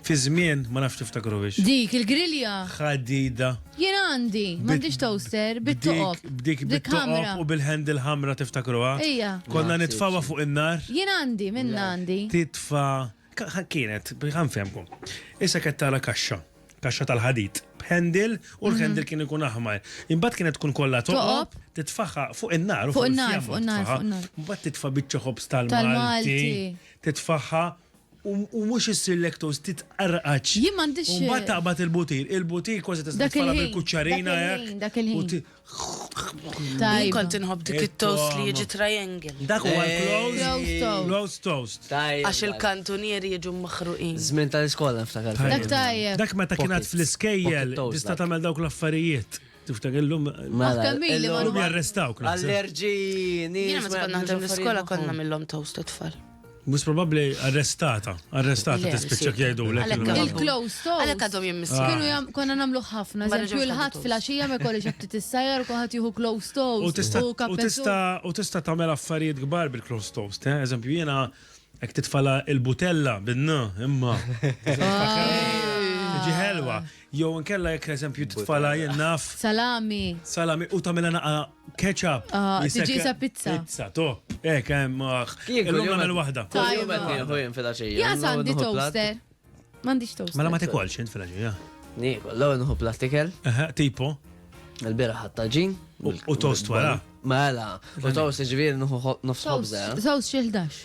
Fi żmien, ma nafx tiftakruhiex. Dik il-grilja. Ħadida. Jien għandi, m'għandix toaster, bit-toqob. B'dik bit-toqob u bil-handle ħamra tiftakruha? Ija. Konna nitfawha fuq in-nar. Jien għandi, minnha għandi. Titfa' kienet, ħa nfehmkom. Issa kienet tara kaxxa, kaxxa tal-ħadid, b'handle u l-handle kien ikun aħmar. Imbagħad kienet tkun kollha toqob, titfaħħa fuq in-nar u fuq in-nar. Imbagħad titfa' biċċa ħobż tal-Malti. Titfaħħa U mhux issir lektoz titqarqaċ. Jien m'għandix. U mbagħad taqbad il-butir. Il-butir kważi tista' tfala bil-kuċċarina hekk. Dak il-ħin. Jien kont inħobb dik it-toast li jiġi triangle. Dak huwa l-close toast. Għax il-kantunieri jiġu maħruqin. Żmien tal-iskola niftakar. Dak tajjeb. Dak meta kien għad fl-iskejjel tista' tagħmel dawk l-affarijiet. Tiftaker illum. Mela, illum jarrestawk. Allerġi, nies. Jiena meta konna naħdem l-iskola konna mill-lom toast it-tfal. Mus probabli arrestata, arrestata tispiċċa jgħidu l Il-close to. Għalek għadhom jimmissu. Ah. Kienu jam, konna namlu ħafna, ġemxu il-ħat fil-axija me kolli ġabti t-sajjar u kħat juhu close to. U tista tamel affarijiet gbar bil-close to. Eh? Eżempju, jena ek titfala il-butella bin-n, imma. Ġiħelwa. Jew inkella jekk eżempju titfala jien naf. Salami. Salami u tagħmilha naqa' ketchup. Ah, tiġi sa pizza. Pizza, to. Hekk hemm. Ah, illum nagħmel waħda. Tajjeb qed nieħu jien fil-għaxija. Ja sandi toaster. M'għandix toaster. Mela ma tikolx int fil-għaxija. Niekol, l-ewwel nħu plastikel. Aha, tipo. Il-bira ħatta ġin. U toast wara. Mela, u toast ġviri nħu nofs ħobza. Toast xi 11.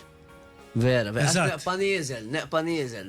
Vera, vera. Neqpa nieżel, neqpa nieżel.